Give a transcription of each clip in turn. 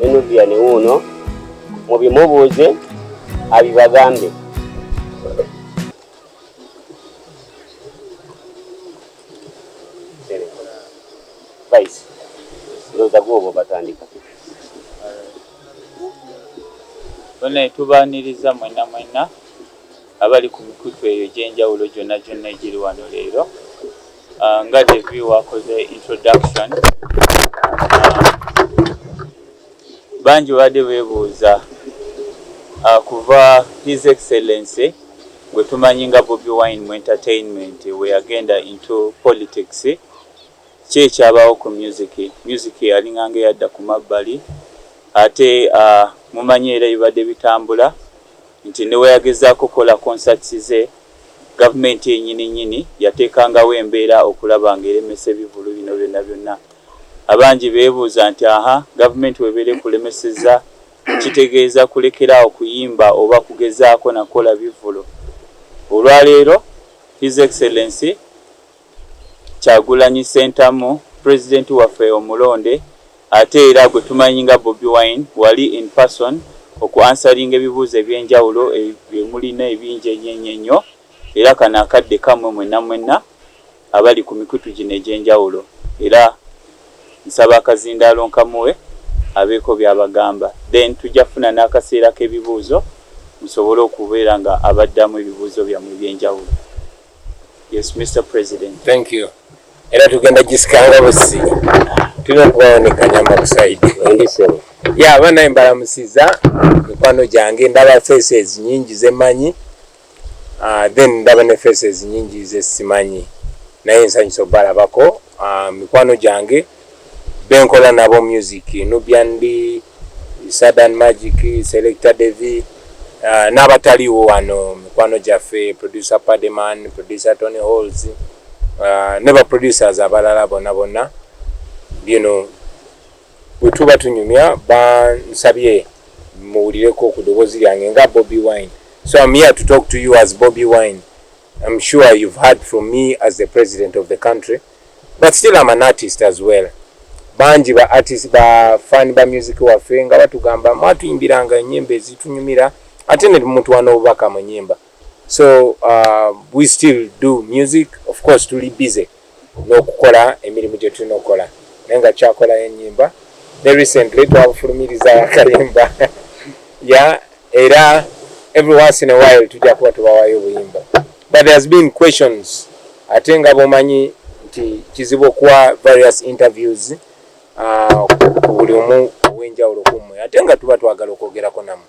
Enuvia ne wuuno mubimubuuze abibagambe. Vice, ndowooza gwe oba batandika. Bonna tubaaniriza mwenna mwenna. Abali ku mikutu eyo egy'enjawulo gyonna gyonna egiri wano leero, nga Devi w'akoze introduction, bangi babadde beebuuza kuva His Excellency gwe tumanyi nga Bobi Wine mu entertainment we yagenda into politics, ki ekyabaawo ku music. Music yalinganga eyadda ku mabbali ate mumanyi era ebibadde bitambula nti ne bwe yagezaako okukola concerts ze, gavumenti yenyini nnyini yateekangawo embeera okulaba nga eremesa ebivvulu bino byonna byonna. Abangi beebuuza nti aha gavumenti webeera ekulemesezza kitegeeza kulekera awo kuyimba oba kugezaako na kukola bivvulu? Olwaleero His Excellency, Kyagulanyi Ssentamu president waffe omulonde ate era gwe tumanyi nga Bobi Wine wali in person oku answeringa ebibuuzo ebyenjawulo bye mulina ebingi enyenyenyo era kano akadde kammwe mwenna mwenna abali ku mikutu gino egyenjawulo era nsaba akazindaalo nkamuwe abeeko byabagamba then tujja kufuna n'akaseera k'ebibuuzo musobole okubeera nga abaddamu ebibuuzo byammwe ebyenjawulo. Yes, Mr. President. Thank you. Era tugenda gisikanga busi. Tulina okubawanekanya amakusayidi. Endisemu. Ya abana embalamusiza mikwano gyange ndaba faces nyingi zemanyi. Uh, then ndaba ne faces nyingi zesimanyi. Naye nsanyusa obalabako uh, ah, mikwano gyange. benkola nabo music Nubian Li, Sadan Magic, Selector Devi uh, n'abataliwo wano mikwano gyaffe producer Pademan, producer Tony Halls uh, ne ba producers abalala bona bona you know bwetuba tunyumya bansabye muwulireko ku ddoboozi lyange nga Bobi Wine so I'm here to talk to you as Bobi Wine I'm sure you've heard from me as the president of the country, but still I'm an artist as well. Banji ba artist ba fan ba music wa fenga watu gamba matu imbira nga nyembe zitu nyumira atene mtu wano ubaka mnyemba. So uh, we still do music, of course to be busy. nokukola emirimu gyetulina okukola naye nga kyakolayo enyimba ne recently twabufulumiriza akayimba ya era every once in a while tujja kuba tubawayo obuyimba but there has been questions ate nga bomanyi nti kizibu okuwa various interviews uh, ku buli omu owenjawulo kummwe ate nga tuba twagala okwogerako namu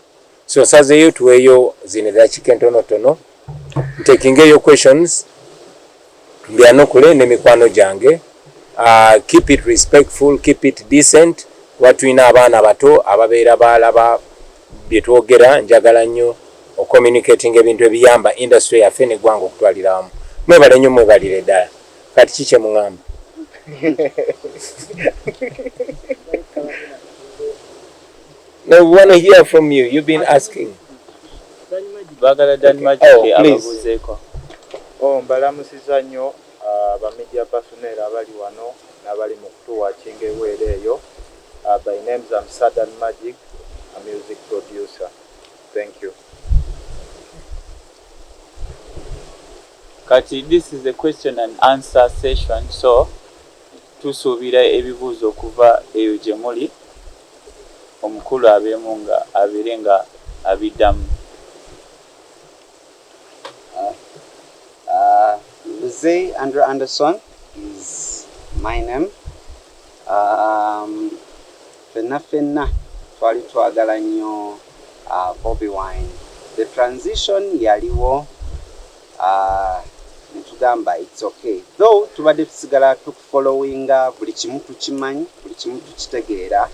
So nsazeeyo tuweeyo zino eddakiika entonotono ntekingeeyo questions mbyanukule ne mikwano gyange. Uh, keep it respectful, keep it decent. Kuba tulina abaana bato ababeera baalaba bye twogera. Njagala nnyo ocommunicating ebintu ebiyamba industry yaffe n'eggwanga okutwalira wamu. Mwebale nnyo, mwebalire ddala. Kati ki kye mung'amba? No, we want to hear from you. You've been asking. Bagala Dan Magic oh, ababuzeeko. Oh, mbalamusiza nnyo uh, ba media personnel abali wano n'abali mu kutuwa kinga eweera eyo. Uh, by names I'm Sadan Magic, a music producer. Thank you. Kati, this is a question and answer session, so Tusuubira ebibuuzo okuva eyo gye muli, omukulu abeemu nga abeere nga abiddamu. Mzei Andrew Anderson is my name, ffenna ffenna twali twagala nnyo Bobi Wine, the transition yaliwo, Netugamba it's ok though tubadde tusigala tuku followinga buli kimu tukimanyi buli kimu tukitegeera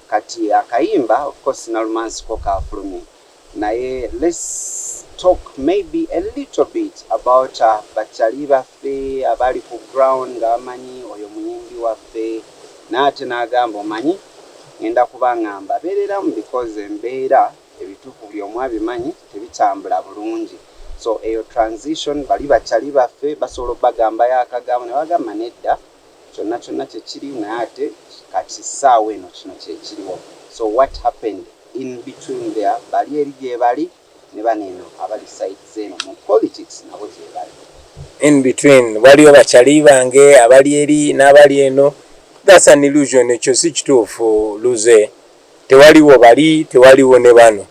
kati akayimba of course Nalumansi ko kafulumye naye let's talk maybe a little bit about ba chali baffe abaali ku ground nga bamanyi oyo muyimbi waffe naye ate nagamba omanyi ngenda kuba nga mbabereramu because embeera ebitufu buli omu abimanyi tebitambula bulungi so eyo transition bali ba chali baffe basobola obagambayo akagambo nebagamba nedda kyonna kyonna kyekiri naye ate kati saawa eno kino kyekiriwo so what happened in between there bali eri gyebali nebano eno abali side zeno mu politics nabo gyebali in between waliyo ba chali bange abali eri nabali eno that's an illusion ekyo sikituufu luze tewaliwo bali, tewaliwo ne bano,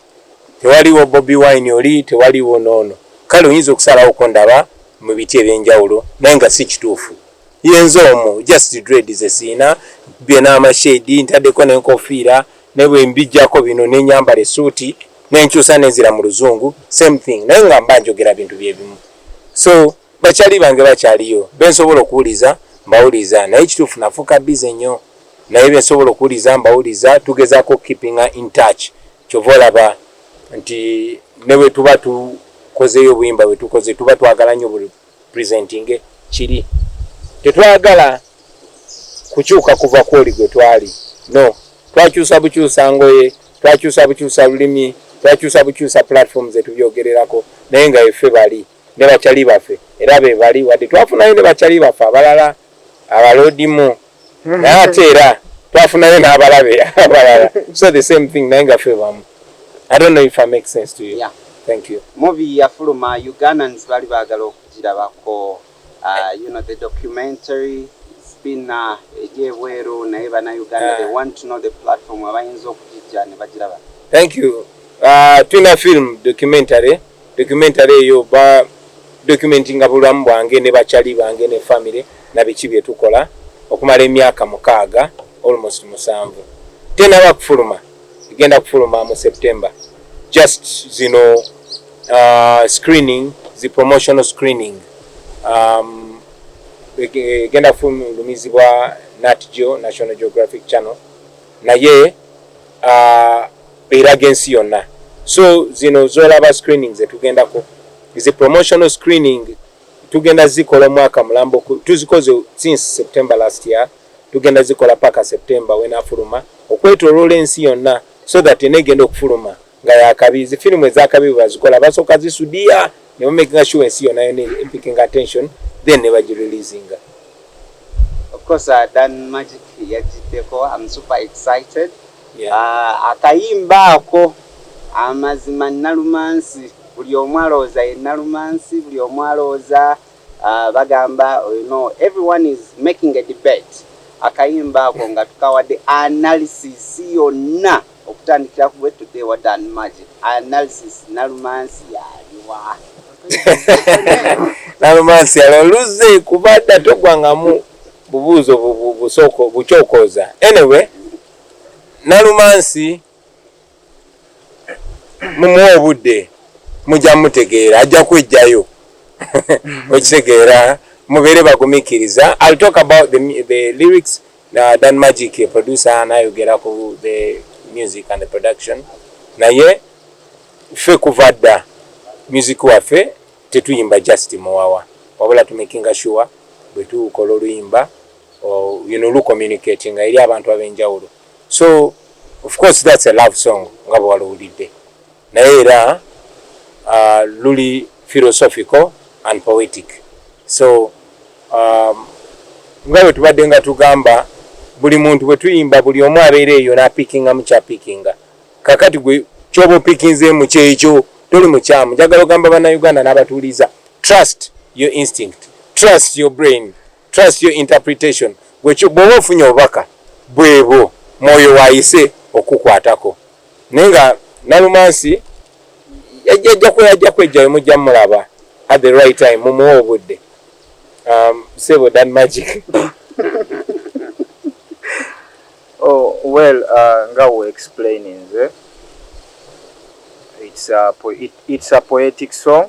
tewaliwo Bobi Wine oli, tewaliwo n'ono. Kale oyinza okusalawo okundaba mu biti eby'enjawulo naye nga si kituufu. Yenze omu, just dread ze sirina, nkubye n'amashade, ntaddeko n'enkofiira naye bwe mbiggyako bino ne nnyambala essuuti ne nkyusa ne nzira mu Luzungu, same thing naye nga mba njogera bintu bye bimu. So. Bakyali bange bakyaliyo bensobola okuwuliza mbawuliza naye ekituufu nafuuka busy nnyo naye bensobola okuwuliza mbawuliza tugezaako okukeepinga in touch kyova olaba nti nebwetuba tukozeyo obuyimba bwetukoze tuba twagala nnyo buli presentinge kiri tetwagala kukyuka kuva kwoli gwe twali no twakyusa bukyusa ngoye twakyusa bukyusa lulimi twakyusa bukyusa platform zetubyogererako naye nga efe bali ne bakyali baffe era be bali wadde twafunayo ne bakyali baffe abalala abaloodimu naye ate era twafunayo n'abalabe abalala so the same thing naye nga fe bamu i don't know if i make sense to you yeah. thank you movie yafuluma ugandans bali baagala okugirabako uh, you know the documentary been uh, egyebweru naye banauganda they want to know the platform abayinza okugijja ne bagiraba thank you uh, tulina film documentary Documentary eyo ba documentinga bulamu bwange ne ba chali bange ne family na biki byetukola okumala emyaka mukaaga almost musanvu tenaba kufuluma egenda kufuluma mu September just zino uh, screening zi promotional screening um, egenda kufulumizibwa Nat Geo National Geographic Channel naye uh, eraga ensi yonna so zino zolaba screening zetugendako zi promotional screening tugenda zikola omwaka mulambo tuzikoze since september last year tugenda zikola paka september wenafuluma okwetolola ensi yonna so that enegenda okufuluma nga yakabi zi filimu ezakabi bwebazikola basooka zisudiya nebamakinga sure ensi yonna yona empikinga attention then nebagireleasinga Of course uh, Dan Magic yajiddeko I'm super excited yeah. uh, akayimba ako amazima nalumansi buli omu alowooza ye nalumansi buli omu alowooza uh, bagamba you know, everyone is making a debate akayimba ako nga tukawadde analysis yonna Okutandikira ku gwe today what an magic analysis nalumansi yaliwa nalumansi yaliwa luze kubadda togwangamu bubuuzo busoko bukyokooza anyway nalumansi mumuwa obudde mujja mutegeera ajja kwejjayo okitegeera mubeere bagumikiriza i'll talk about the, the lyrics Uh, Dan Magic ye producer anayogera ku the music and the production naye ffe kuva dda music waffe tetuyimba just muwawa wabula tumakinga sure bwe tukola oluyimba you know lucommunicating eri abantu ab'enjawulo so of course that's a love song nga bwe walowulidde naye era uh, luli philosophical and poetic so um, nga bwe tubadde nga tugamba buli muntu bwe tuyimba buli omu abeera eyo n'apikinga mu kyapikinga kakati gwe kyoba opikinzeemu kyekyo toli mukyamu njagala ogamba bannayuganda n'abatuuliza trust your instinct trust your brain trust your interpretation bw'oba ofunye obubaka bwebwo mwoyo waayise okukwatako naye nga nalumansi yajja kwejjayo mujja mulaba at the right time mumuwa obudde um, sebo dan magic oh, well uh, nga we explain nze it's a, it's a poetic song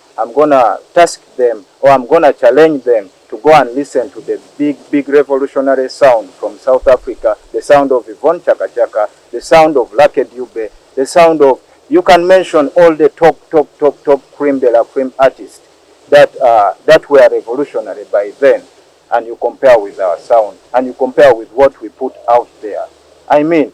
Am gonna tusk them or am gonna challenge them to go and listen to the big big revolutionary sound from south Africa the sound of Yvonne Chaka Chaka the sound of Lucky Dube the sound of you can mention all the top top top top cream de la cream artist that uh, that were revolutionary by then and you compare with our sound and you compare with what we put out there I mean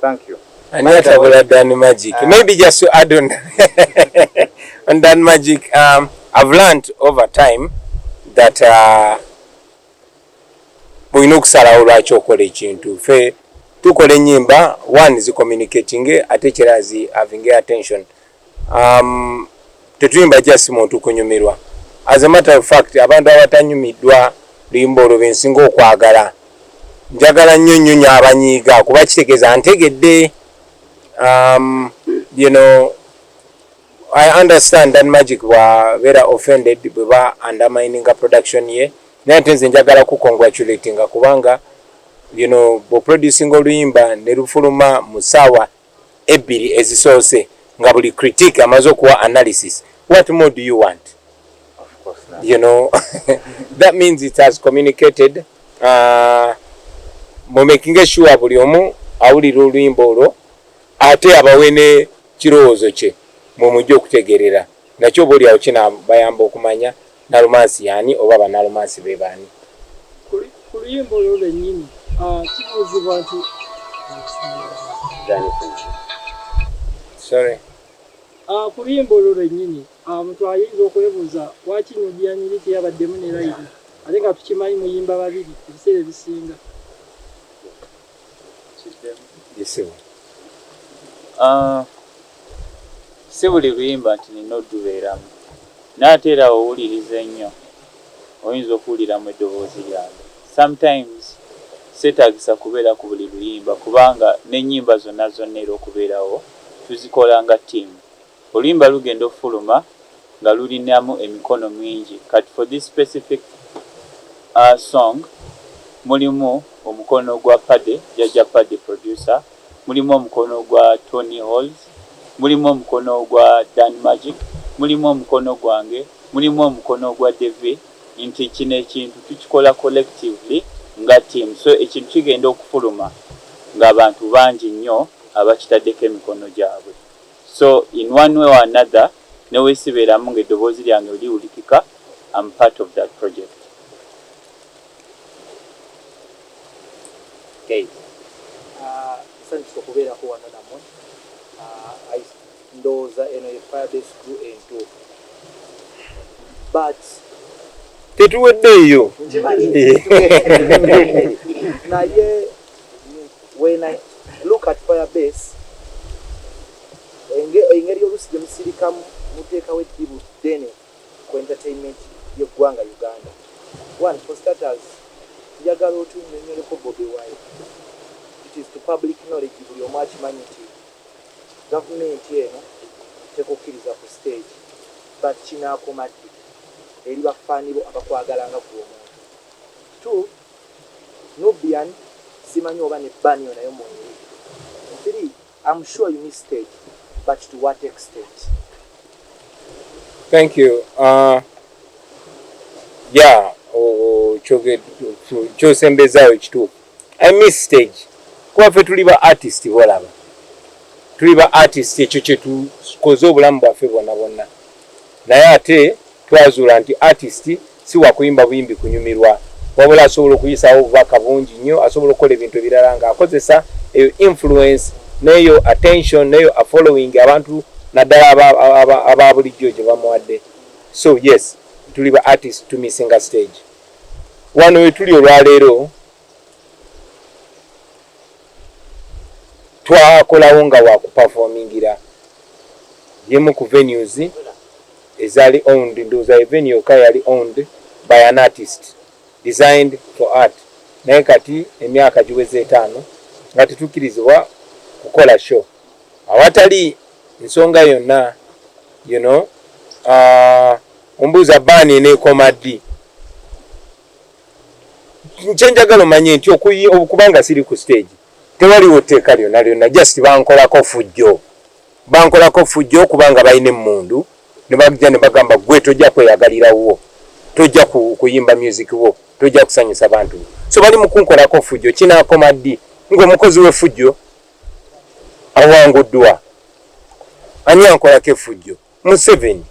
Thank you. Ani atabula Dan Magic? Uh, Maybe just to add on, on Dan Magic, um, I've learned over time that uh, olina okusalawo lwaki okola ekintu fe tukola enyimba one zicommunicatinge ate kirazi having attention um, tetuyimba just muntu kunyumirwa as a matter of fact abantu abatanyumiddwa luyimba olwo bensinga okwagala njagala nnyo nnyo nyo abanyiiga kuba kitegeeza ntegedde um, you know i understand that magic bwabeera offended bweba undermininga production ye naye ate nze njagala ku congratulatinga kubanga you know bwoproducinga oluyimba ne lufuluma mu saawa ebbiri ezisoose nga buli critique amaze okuwa analysis what more do you want you know that means it has communicated uh, mumakinge sure buli omu awulira oluyimba olwo ate abawe ne kirowoozo kye mwemujja okutegerera nakyo oba olyawo kinabayamba okumanya Nalumansi y'ani oba ba Nalumansi be b'ani? Ku luyimba olwo lwennyini kibuuzibwa nti. Sorry. Ku luyimba olwo lwennyini omuntu ayinza okwebuuza lwaki Nubia Nyiri teyabaddemu ne layini ate nga tukimanyi muyimba babiri ebiseera ebisinga. Ah, si buli luyimba nti nina odubeeramu naye ate era owuliriza ennyo oyinza okuwuliramu eddoboozi lyange sometimes seetagisa kubeera ku buli luyimba kubanga n'ennyimba zonna zonna era okubeerawo tuzikola nga ttiimu. Oluyimba lugenda ofuluma nga lulinamu emikono mwingi kati for this specific song mulimu omukono gwa Paddy jjajja Paddy producer, mulimu omukono gwa Tonny Holes, mulimu omukono gwa Dan Magic, mulimu omukono gwange, mulimu omukono gwa Devi nti kino ekintu tukikola collectively nga team so ekintu kigenda okufuluma nga abantu bangi nnyo abakitaddeko emikono gyabwe. So in one way or another newesiberamu nga eddoboozi lyange liwulikika am part of that project. Guys. Uh, nsanyusa okubeerako wano namwe uh, ndowooza eno ye firebase gru entuufu but tetuwedde eyo naye When I look at fire base enge engeri olusi jemusirikamu mutekawo eddibu ddene ku entertainment ye ggwanga Uganda. One for starters njagala otunyonyoleko Bobi wine. It is to public knowledge buli omu akimanyi nti gavumenti eno tekukiriza ku stage but kinakoma ddi eri ba fan bo abakwagala nga gwe omuntu. Two, Nubian simanyi oba ne banio nayo mweri three am sure you miss stage but to what extent. Thank you uh, yeah kyosembezaawo ekituufu i miss stage kuba ffe tuli ba artist bolaba tuli ba artist ekyo kyetukoze obulamu bwaffe bwona bwonna naye ate twazuula nti artist Si wa kuyimba buyimbi kunyumirwa, wabula asobola okuyisaawo obubaka bungi nnyo. Asobola okukola ebintu ebirala nga akozesa eyo influence n'eyo attention n'eyo a following abantu naddala aba, aba, aba bulijjo gye bamuwadde. So yes, tuli ba artist to missinga stage. Wano we tuli olwaleero, twakolawo nga wakupafomingira yemu ku venues ezali owned ndoza evenu yoka yali owned by an artist designed for art naye kati emyaka giweza etaano nga tetukirizibwa kukola show awatali nsonga yonna you know uh, ombuuza baani eneekoma ddi kyenjagala omanye nti okuyi okubanga siri ku stage tewaliwo tteeka lyona lyona just bankolako fujjo bankolako fujjo okubanga balina emmundu nebagja nebagamba gwe tojja kweyagalira wuwo tojja kuyimba music wo tojja kusanyusa bantu so bali mukunkolako fujjo kinakoma ddi ngaomukozi wefujjo awanguddwa ani ankolako efujjo Museveni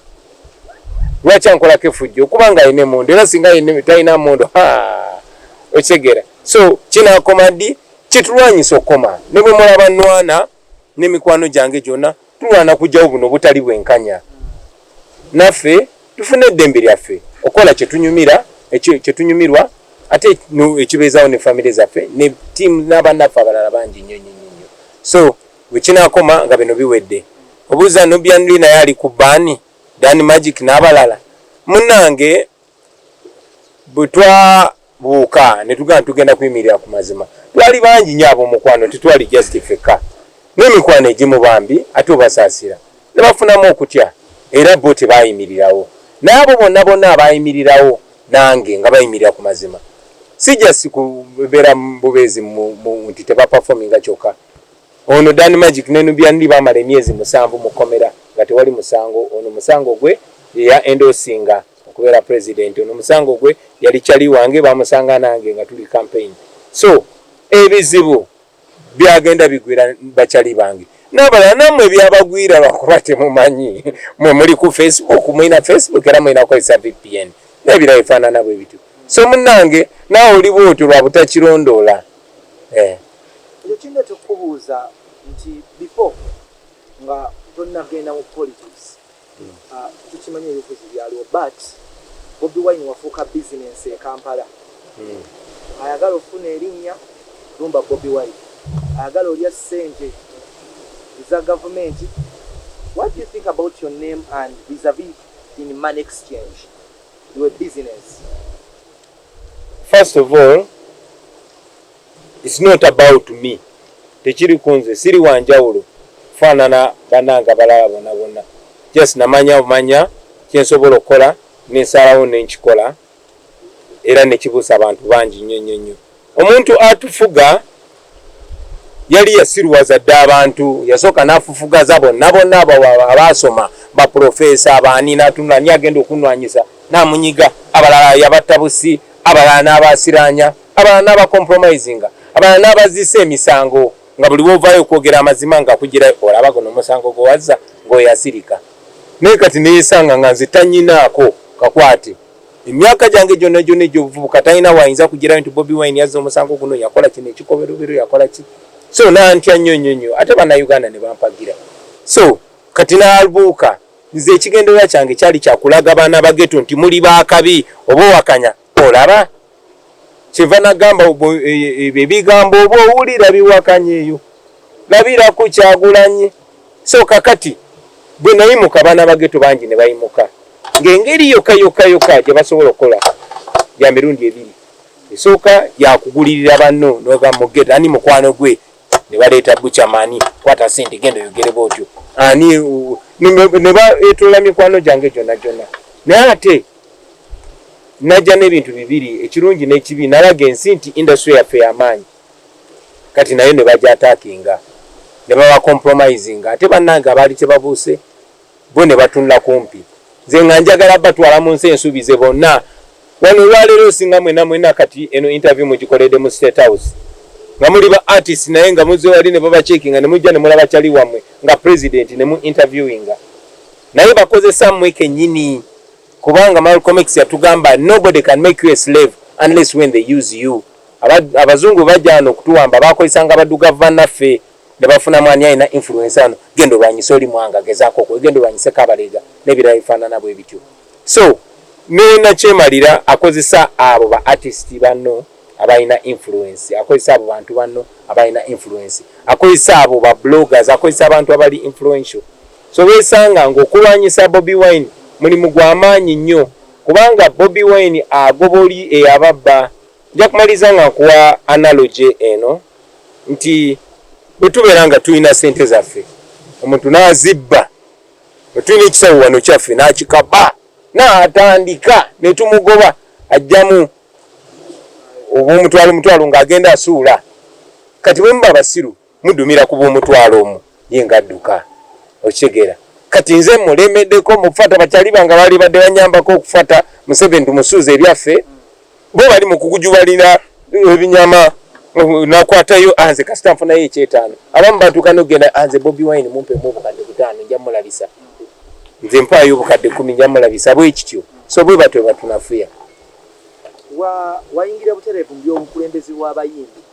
lwaki ankolako efujjo okuba nga alina emundu era singa talina mundu okitegeera so kinakoma ddi kitulwanyisa okukoma ne bwe mulaba nwana ne mikwano gyange gyonna tulwana kujjawo buno obutali bwenkanya naffe tufune eddembe lyaffe okukola kyetunyumira kyetunyumirwa ate ekibeezawo ne famire zaffe ne tiimu n'abannaffe abalala bangi nnyo nnyo nnyo so Wekinakoma nga bino biwedde obuuza Nubian Li naye ali ku ban, Dan Magic nabalala munange bwetwabuuka netugamba tugenda kuyimirira ku mazima twali bangi nyo abomukwano tetwali just fekka nemikwano egimu bambi ate obasasira nebafunamu okutya era bo tebayimirirawo naye abo bonna bonna abayimirirawo nange nga bayimirira ku mazima si just kubera bubeezi nti teba performinga kyokka. Ono Dan Magic ne Nubian Li baamala emyezi musanvu mu kkomera nga tewali musango. Ono musango gwe ye ya endorsinga okubeera President. Ono musango gwe yali chali wange baamusanga nange nga tuli campaign. So ebizibu byagenda bigwira ba chali bange n'abalala nammwe byabagwira lwakuba temumanyi. Mwe muli ku Facebook, mulina Facebook era mulina kukozesa VPN n'ebirala ebifaanana bwe bityo. So munnange naawe oli bw'otyo lwa butakirondoola. Eh. Ekyo kindeta okukubuuza nti before nga tonagenda mu politics tukimanyi ebibufuzi byaliwo but Bobi Wine wafuuka business e Kampala ayagala okufuna erinnya lumba Bobi Wine ayagala olya sente eza gavumenti what do you think about your name and vis a vis in money exchange your business. First of all It's not about me tekiri kunze siri wanjawulo kufaanana banange abalala bona bona just namanya bumanya kyensobola okukola nensalawo nenkikola era nekibuusa abantu bangi nnyo nnyo nnyo omuntu atufuga yali yasiruwaza dda abantu yasooka nafufugaza bonna bonna abaasoma baprofesa abaani natunula ni agenda okunwanyisa namunyiga abalala yabatta busi abalala n'abasiraanya Abalala n'aba compromisinga, abalala n'abazisa emisango nga buli w'ovaayo okwogera amazima nga akuggyirayo olaba guno omusango gwe wazza ng'oyo yasirika. Naye kati neesanga nga nze tanyinaako kakwate. Emyaka gyange gyonna gyonna egy'obuvubuka talina w'ayinza kuggyirayo nti Bobi Wine yazza omusango guno, yakola kino ekikolobero, yakola ki. So nantya nnyo nnyo nnyo ate Bannayuganda ne bampagira. So kati nalbuuka. Nze ekigendererwa kyange kyali kya kulaga baana ba Ghetto nti muli ba kabi oba owakanya olaba. kyeva nagamba ebigambo oba owulira biwakanya eyo labira ku kyagulanyi so kakati gwe nayimuka abaana bageto bangi nebayimuka ng'engeri yokka yokka yokka gye basobola okukola ya mirundi ebiri esooka yakugulirira banno noga mugeta ani mukwano gwe ne baleeta bucamani kwata sente genda oyogere bootyo ani ne baetoola mikwano gyange gyonna gyonna naye ate Najja n'ebintu bibiri, ekirungi n'ekibi. Nalaga ensi nti industry yaffe ya maanyi kati nayo ne bagyataakinga ne baba compromisinga ate bannange abaali tebabuuse bo ne batunula kumpi. Nze nga njagala batwala mu nsi ensuubize bonna wano olwaleero osinga mwenna mwenna kati eno interview mugikoledde mu State House nga muli ba artists naye nga muzze wali ne babacheckinga ne mujja ne mulaba chali wammwe nga President ne mu interviewinga. Naye bakozesa mwe kenyini kubanga Malcolm X yatugamba nobody can make you a slave unless when they use you. Abazungu bajano kutuwamba bakozesanga abadugavu banaffe ne bafuna mwani alina influence ano gendo lwanyisa oli mwanga gezako okwe gendo lwanyisa kabalega ne birayi fana nabo ebityo. So me na chemalira akozesa abo ba artist banno abalina influence akozesa abo bantu banno abalina influence akozesa abo ba bloggers akozesa abantu abali influential So weesanga ng'okulwanyisa Bobi Wine mulimu gwa maanyi nnyo kubanga Bobi Wine agoba oli eyababba. Nja kumaliriza nga nkuwa analogy eno nti bwe tubeera nga tulina ssente zaffe omuntu n'azibba, bwe tulina ekisawo wano kyaffe n'akikaba n'atandika ne tumugoba ajjamu obw'omutwalo mutwalo ng'agenda asuula. Kati bwe muba basiru Mudumira ku b'omutwalo omu ye nga adduka. Okitegera. Kati nze mmulemedeko mu kufata bakyaliba nga balibadde banyambako okufata Museveni tumusuuze ebyaffe. Bo bali mu kugujubalira ebinyama nakwatayo ah nze kasita nfunayo ekyetaano. Abamu batuuka n'okugenda ah nze Bobi Wine mumpemu obukadde butaano nja mulabisa. Nze mpaayo obukadde kkumi nja mulabisa bwe kityo. So bwe batyo bwe batunafuya. Wa wayingira butereevu mu by'obukulembeze bw'abayimbi?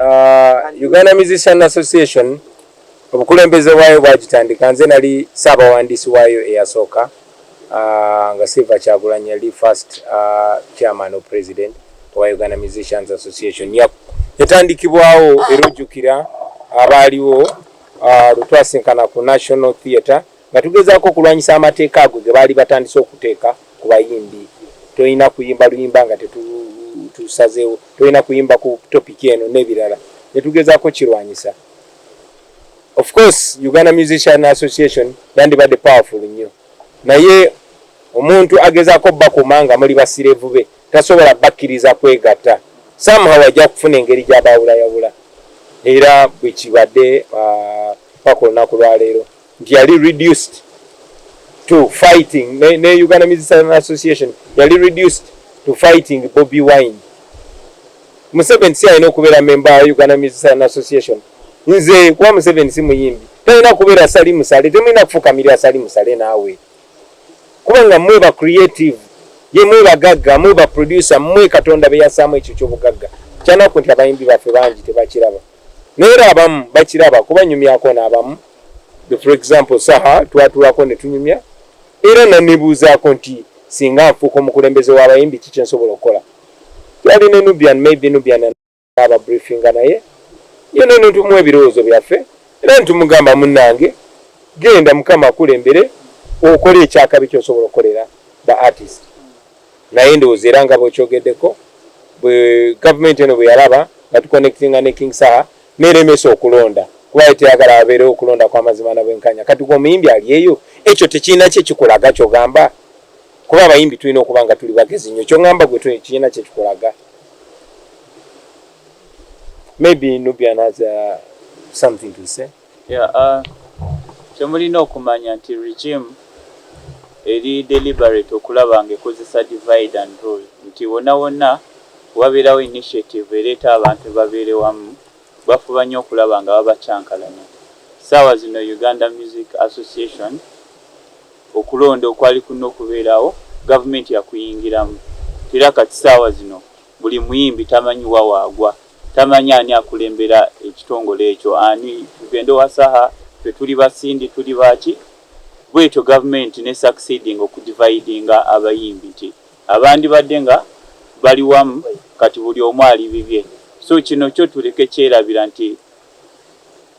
uh, Uganda Musician Association obukulembeze bwayo bwagitandika nze nali saabawandiisi waayo eyasooka uh, nga silver kyagulanyi yali first uh, chairman of president owa uganda musicians association yep. yatandikibwawo era ojjukira abaaliwo uh, lwetwasinkana ku national theatre Nga tugezaako okulwanyisa amateeka ago ge baali batandise okuteeka ku bayimbi, tolina kuyimba luyimba nga tetusazeewo, tolina kuyimba ku topiki eno n'ebirala ne tugezaako okukirwanyisa. Of course Uganda Musician Association yandibadde powerful nnyo naye omuntu agezaako obbakuuma nga muli basireevu be tasobola bakkiriza kwegatta. Somehow ajja kufuna engeri gy'abaawulayawula era bwe kibadde paka olunaku lwaleero. nti yali reduced to fighting ne, ne Uganda Musician Association yali reduced to fighting Bobby Wine. Museveni si alina okubeera memba ya Uganda Musician Association. Nze kuba Museveni si muyimbi talina kubeera sali musale, temulina kufukamirira sali musale naawe, kubanga mwe ba creative ye mwe bagagga mwe ba producer mwe Katonda beyasaamu ekyo kyobugagga. Kyanaku nti abayimbi baffe bangi tebakiraba, naye era abamu bakiraba kuba nyumyako n'abamu for example saha twatulako netunyumya era nanebuuzaako nti singa nfuuka omukulembeze w'abayimbi ki kyensobola okukola twali ne nubian maybe nubian aba briefinga naye yena netumuwa ebirowoozo byaffe era netumugamba munange genda mukama akulembere okole ekyakabi kyosobola okukolera ba artist naye ndowooza era nga bwekyogeddeko bwe gavumenti eno bwe yalaba nga tuconnectinga ne king saha neremesa okulonda kuba yali teyagala waberewo kulonda kwamazima na bwenkanya kati gwe omuyimbi ali eyo ekyo tekirina kyekikulaga kyogamba kuba abayimbi tulina okuba nga tuli bagezi nyo kyongamba gwe kirina kyekikulaga maybe nubian has uh, something to say yeah, uh, kyemulina okumanya nti regime eri deliberate okulaba nga ekozesa divide and rule nti wona wona Wabeerawo initiative ereeta abantu babeere wamu, bafuba nnyo okulaba nga babakyankalanya. Ssaawa zino Uganda Music Association okulonda okwali kulina okubeerawo gavumenti yakuyingiramu nti era kati ssaawa zino buli muyimbi tamanyi wa waagwa, tamanyi ani akulembera ekitongole ekyo, ani, tugende owa Saha, ffe tuli ba Cindy, tuli ba ki, bwetyo gavumenti ne succeedinga okudividinga abayimbi nti. abandibadde nga Bali wamu kati buli omu ali bibye so kino kyo tuleke kyelabira nti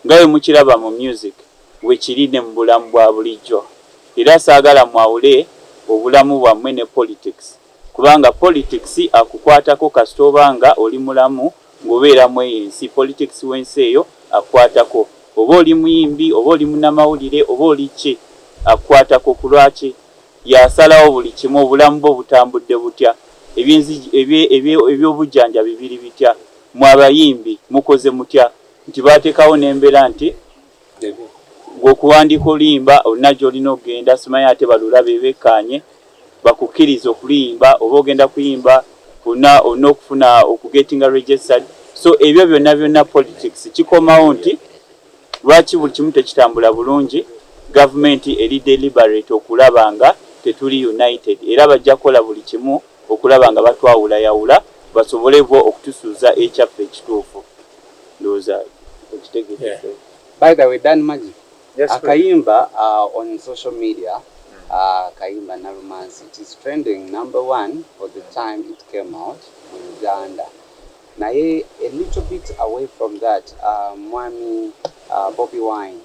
nga bwemukilaba mu music bwekili ne mubulamu bwa bulijjo era sagala mwawule obulamu bwamwe ne politics kubanga politics akukwatako kasita oba nga oli mulamu nga obeera mweyo ensi politics wensi eyo akukwatako oba oli muyimbi oba oli munamawulire oba oli ki akukwatako kulwaki Yasalawo buli kimu, obulamu bwo butambudde butya, eby'enzigi, ebye, ebye, eby'obujjanjabi biri bitya, mmwe abayimbi mukoze mutya, nti baateekawo n'embeera nti, Ggwe okuwandiika oluyimba olina gy'olina okugenda, simanyi ate balulabe bekkaanye bakukkirize okuluyimba, oba ogenda kuyimba olina, olina okufuna, okugetinga registered, so ebyo byonna byonna politics kikomawo nti. Lwaki buli kimu tekitambula bulungi? Gavumenti eri deliberate okulaba nga tetuli united era bajja kukola buli kimu okulaba nga batwawulayawula basobole bo okutusuuza ekyaffe ekituufu. Ndowooza okitegedde. By the way Dan Magic akayimba on social media akayimba Nalumansi it is trending number one for the time it came out mu Uganda. Naye a little bit away from that mwami bobi wine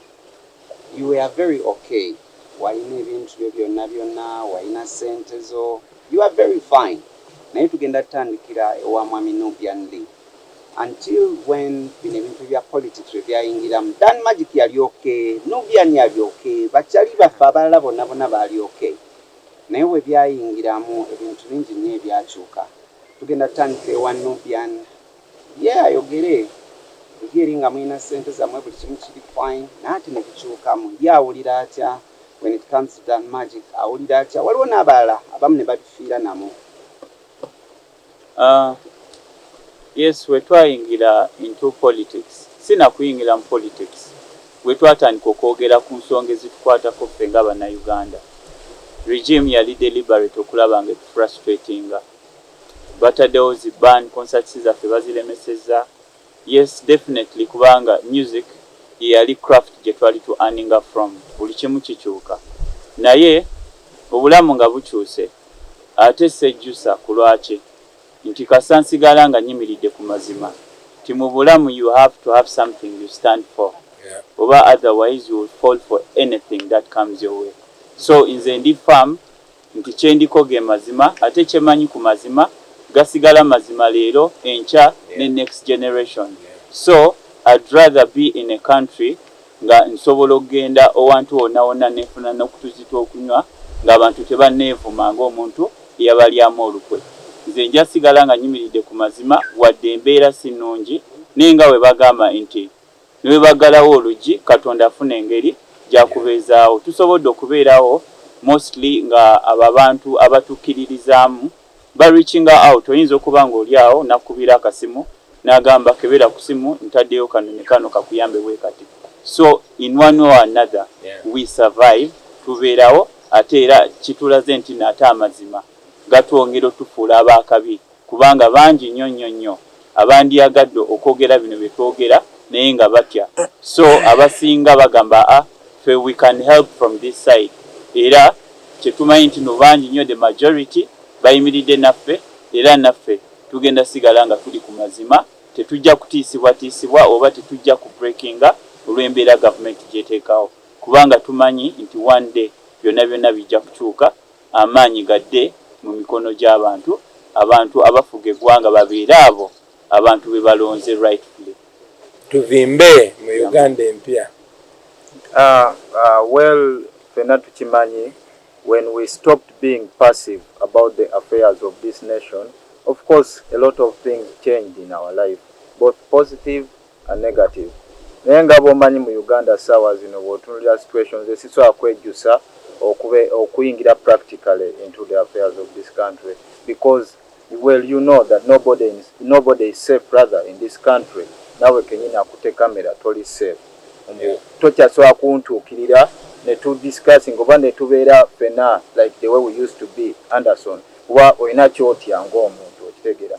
you were very ok walina ebintu byo byona byona walina sente zo you were very fine naye tugenda tandikira ewa mwami nubian li until when bino ebintu bya politics webyayingiramu dan magic yali ok nubian yali ok bakyali baffe abalala bona bona bali ok naye webyayingiramu ebintu bingi nyo ebyakyuka Tugenda tutandika ewa Nubian ye ayogere eri eri nga muyina sente zamwe buli kimu kiri fine naye ate nebikyukamu ye awulira atya when it comes to Dan magic awulira atya waliwo nabalala abamu nebabifiira namu. Aah yes wetwayingira into politics sinakuyingira mu politics. Wetwatandika okwogera ku nsonga ezitukwatako ffe nga banauganda, regime yali deliberate okulaba nga etu frustratinga. Batadewo zi ban, concerts zaffe bazilemeseza. Yes definitely kubanga music yeyali craft gyetwali tu earninga from. Buli kimu kikyuka. Naye obulamu nga bukyuse ate sejjusa kulwaki? Nti kasita nsigala nga nyimiridde ku mazima nti mu bulamu u have to have something u stand for oba otherwise u will fall for anything that comes your way so nze ndi firm nti kyendiko ge mazima ate kyemanyi ku mazima gasigala mazima leero, enkya ne next generation so I'd rather be in a country nga nsobola okugenda owantu wonna wonna ne nfuna n'okutuzi tw'okunywa ng'abantu tebanneevuma ng'omuntu eyabalyamu olukwe. Nze nja sigala nga nyimiridde ku mazima wadde embeera si nnungi naye nga bwe bagamba nti ne bwe baggalawo oluggi Katonda afuna engeri gy'akubeezaawo tusobodde okubeerawo mostly nga abo abantu abatukkiririzaamu Ba reachinga out oyinza okuba nga oli awo nakukubira akasimu nagamba kebera kusimu ntadeyo kanyonyi kano kakuyambe bwekati so in one way or another we survive tuberawo ate era kitulaze ntino ate amazima gatwongera otufuula abakabi kubanga bangi nyo nyo nyo abandyagadde okwogera bino byetwogera naye nga batya so abasinga bagamba a ffe we can help from this side era kyetumanyi ntino bangi nyo the majority bayimiridde naffe era naffe tugenda sigala nga tuli ku mazima tetujja kutiisibwatiisibwa oba tetujja ku breakinga olwembeera gavumenti gyetekawo kubanga tumanyi nti one day byonna byonna bijja kukyuka amaanyi gadde mu mikono gy'abantu, abantu abafuga eggwanga babeere abo abantu be balonze rightfully. Tuvimbe mu Uganda empya. Well ffena tukimanyi when we stopped being passive about the affairs of this nation of course a lot of things changed in our life both positive a negative naye nga bwomanyi mu Uganda sawa zino bwotunulira situations esisobola kwejusa okube okuyingira practically into the affairs of this country because well you know that nobody in nobody is safe brother in this country nawe kenyini akute camera toli safe mbu tokyasobola kuntukirira ne tu discussing oba ne tubeera fena like the way we used to be Anderson kuba olina kyotya nga omuntu okitegera.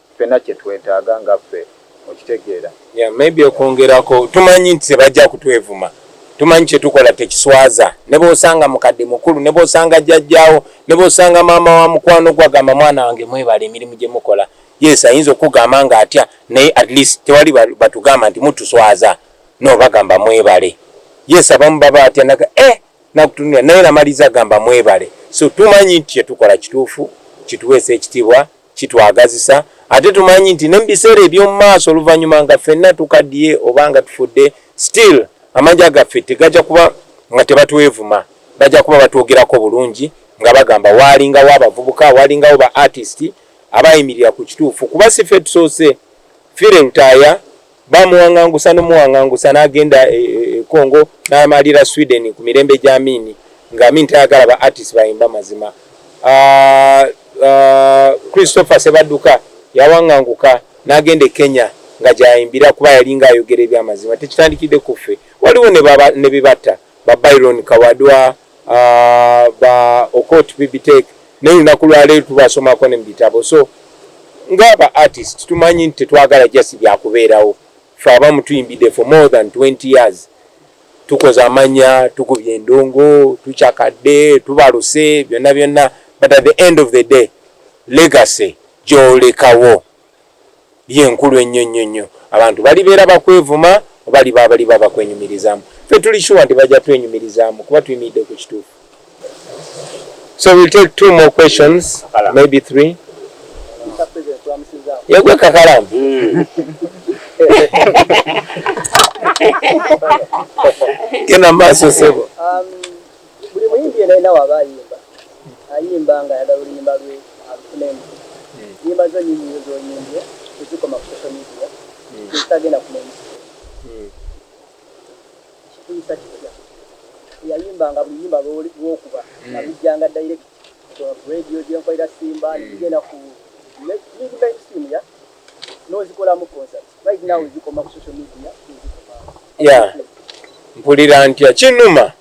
ffena kyetwetaga nga ffe okitegeera. Yeah maybe okwongerako tumanyi nti tebajja kutwevuma tumanyi kyetukola tekiswaza nebwosanga mukadde mukulu nebwosanga jajjaawo nebwosanga maama wa mukwano gwo agamba mwana wange mwebale emirimu gyemukola yes ayinza okukugamba nga atya naye at least tewali batugamba nti mutuswaza no bagamba mwebale yes abamu baba atya naga eh nakutunulira naye namaliza gamba mwebale so tumanyi nti kyetukola kituufu kituweesa ekitibwa kitwagazisa ate tumanyi nti ne mu biseera eby'omu maaso oluvannyuma nga ffenna tukaddiye oba nga tufudde still amanja gaffe tegajja kuba nga tebatwevuma bajja kuba batwogerako bulungi nga bagamba waalingawo abavubuka waalingawo ba artist abaayimirira ku kituufu kuba si ffe tusoose fire lutaaya Baamuwaŋŋangusa n'omuwaŋŋangusa n'agenda e, e, e Congo n'amalira Sweden ku mirembe gya Amin nga Amin tayagala ba artist bayimba mazima. Uh, uh, Christopher Sebaduka yawaŋŋanguka n'agenda e Kenya nga gyayimbira kuba yalinga ayogera ebyamazima tekitandikidde ku ffe waliwo ne bibatta ba Byron Kawadwa uh, ba okot bibitek naye lunaku lwaleero tubasomako ne mubitabo so ngaaba artist tumanyi nti tetwagala jasi byakubeerawo fe abamu tuyimbidde for more than 20 years tukoze amanya tukubye endongo tucakadde tubaluse byonna byonna but at the end of the day legacy gyolekawo ye nkulu ennyo nnyo nnyo. Abantu balibeera bakwevuma oba liba baliba bakwenyumirizaamu? Ffe tuli sure nti bajja twenyumirizaamu kuba tuyimiridde ku kituufu. So we'll take two more questions, maybe three. Yegwe kakalamu. Hmm. Genda maaso sebo. Um, Buli muyimbi yena yena waba ayimba ayimba nga ayagala oluyimba lwe alufune nti nyimba zo nyingi nyo zoyimbye tezikoma ku social media tezitagenda ku main stage kikuyisa kitya eyayimbanga buli luyimba lwokuba nga lujjanga direct ku radio gyenkolera simba negigenda ku mainstream ya nozikolamu concert mpulira ntya kinuma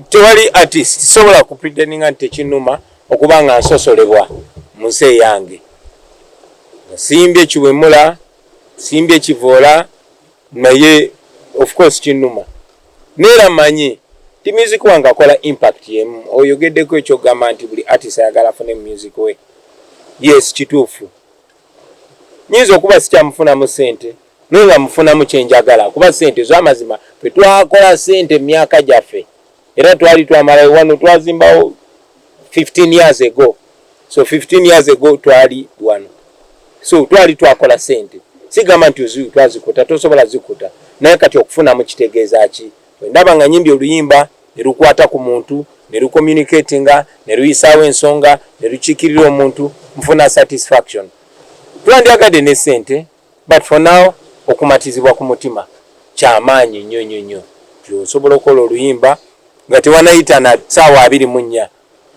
tewali artist sobola kupreteninga nti tekinuma okuba nga nsosolebwa mu nsi eyange simbi ekiwemula simbi ekivoola naye ofcourse kinuma neera manyi ti music wange akola impact yemu oyogeddeko ekyogamba nti buli artist ayagala afune mu music we yes kituufu nyinza okuba sikyamufunamu sente naye nga mufunamu kyenjagala kuba sente zamazima fetwakola sente myaka gyaffe era twali twamalayo wano twazimbawo 15 years ago so 15 years ago twali wano so twali twakola sente sigamba nti ozii twazikuta tosobola zikuta naye kati okufunamu kitegeeza ki Bwe ndaba nga nyimbye oluyimba ne lukwata ku muntu, ne lukomunikeetinga, ne luyisaawo ensonga, ne lukiikirira omuntu, nfuna satisfaction. Twandyagadde ne ssente but for now okumatizibwa ku mutima kya maanyi nnyo nnyo nnyo nti osobola okukola oluyimba nga tewanayita na ssaawa abiri mu nnya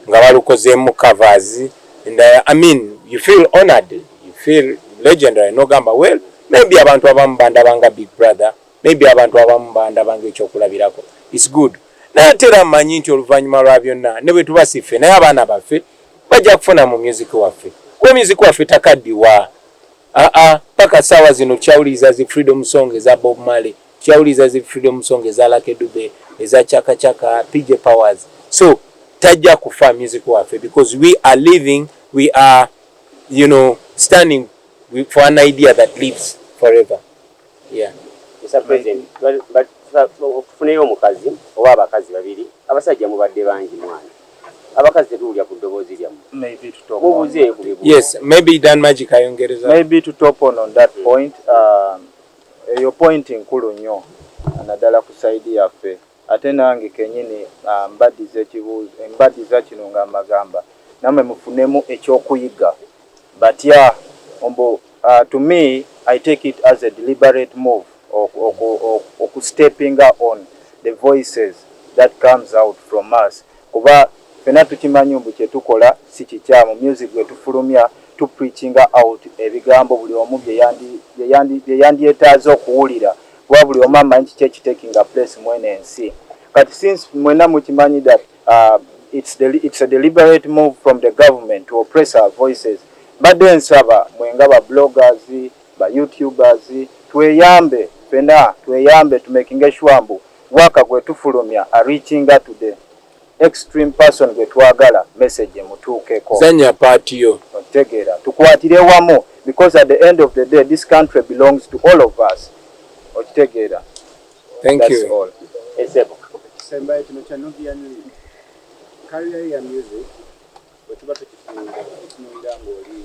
nga balukozeemu covers and I mean you feel honoured, you feel legendary n'ogamba well maybe abantu abamu bandaba nga big brother maybe abantu abamu bandaba nga ekyokulabirako is good naye ate era mmanyi nti oluvannyuma lwa byonna ne bwe tuba si ffe naye abaana baffe bajja kufuna mu myuziki waffe kuba myuziki waffe takaddiwa aa paka saawa zino tukyawuliriza zi freedom song eza bob male tukyawuliriza zi freedom song eza lake dube eza chaka chaka pj powers so tajja kufa music waffe because we are living we are you know standing for an idea that lives forever Mister president tufuneyo omukazi oba abakazi babiri abasajja mubadde bangi mwana abakazi tetuwulira ku ddoboozi lyammwe mubuzeeyo ku bibuuzo. Eyo point nkulu nnyo nadala ku side yaffe. Ate nange kenyini mbadiza ekibuzo mbadiza kino nga mbagamba namwe mufunemu ekyokuyiga batya mbu to me I take it as a deliberate move oku oku steppinga on the voices that comes out from us kuba fena tukimanyi mbu kyetukola sikikyamu music gwetufulumya tu preachinga out ebigambo buli omu byeyandi byeyandi byeyandyetaaze okuwulira kuba buli omu amanyi kiki eki takinga place mweno ensi kati since mwena mukimanyi that uh, it's, de it's a deliberate move from the government to oppress our voices mbadde nsaba mwenga ba bloggers ba youtubers tweyambe fena tweyambe tumekinge sure mbu waka gwetufulumya areachinga today Next stream person gwe twagala message emutuukeko. Zanya part yo. Okitegera. Tukwatire wamu because at the end of the day this country belongs to all of us. Okitegera. Thank That's you. All. Esebo. Semba ekino kya Nubian Lee. Career ya music. Wetuba tukifunga. Tukifunga ngoli.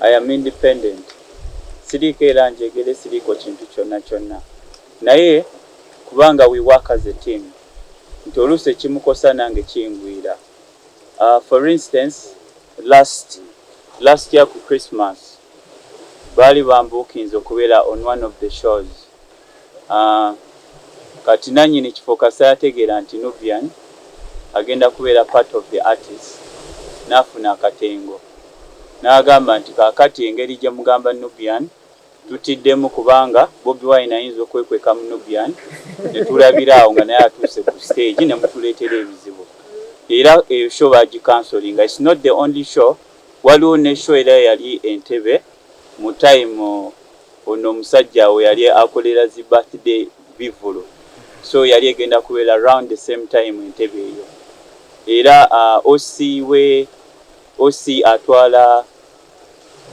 I am independent siriiko era njegere siriiko kintu kyonna kyonna naye kubanga we work as a team nti oluusi ekimukosa nange kingwira for instance last last year ku Christmas baali bambuukinze okubeera on one of the shows aah kati nanyini kifo kasita yategeera nti Nubian agenda kubeera part of the artist nafuna akatengo nagamba nti kakati engeri jemugamba Nubian tutiddemu kubanga Bobi Wine ayinza okwekweka mu Nubian netulabira awo nga naye atuuse ku stage nemutuletera ebizibu era eyo show baji cancellinga it's not the only show waliwo ne show era eyali Entebbe Mu time ono omusajja awo yali akolera zi birthday bivulu so yali egenda kubera round the same time entebe eyo era OC we OC atwala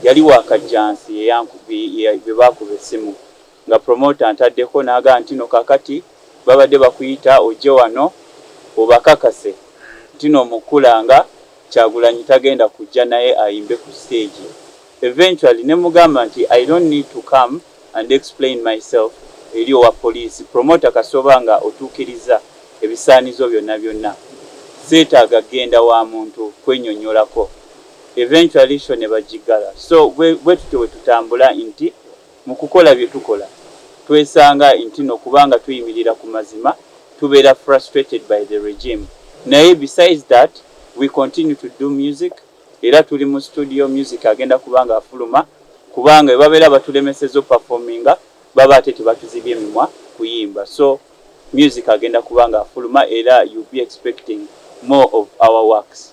yali wakajjansi gwebakuba essimu nga promoter antaddeko nagamba ntino kakati babadde bakuyita ojje wano obakakase ntino omukula nga kyagulanyi tagenda kujja naye ayimbe ku stage eventually nemugamba nti I don't need to come and explain myself eri owa police promoter kasita oba nga otukirizza ebisaanizo byonna byonna setaaga genda wa muntu kwenyonyolako eventually show nebagiggala so bwetutyo wetutambula nti Mu kukola bye tukola twesanga intino kubanga tuyimirira ku mazima tubeera frustrated by the regime naye besides that we continue to do music era tuli mu studio music agenda kuba nga afuluma kubanga bwe babeera batulemeseza o performinga baba ate tebatuzibye emimwa kuyimba so music agenda kuba nga afuluma era you be expecting more of our works.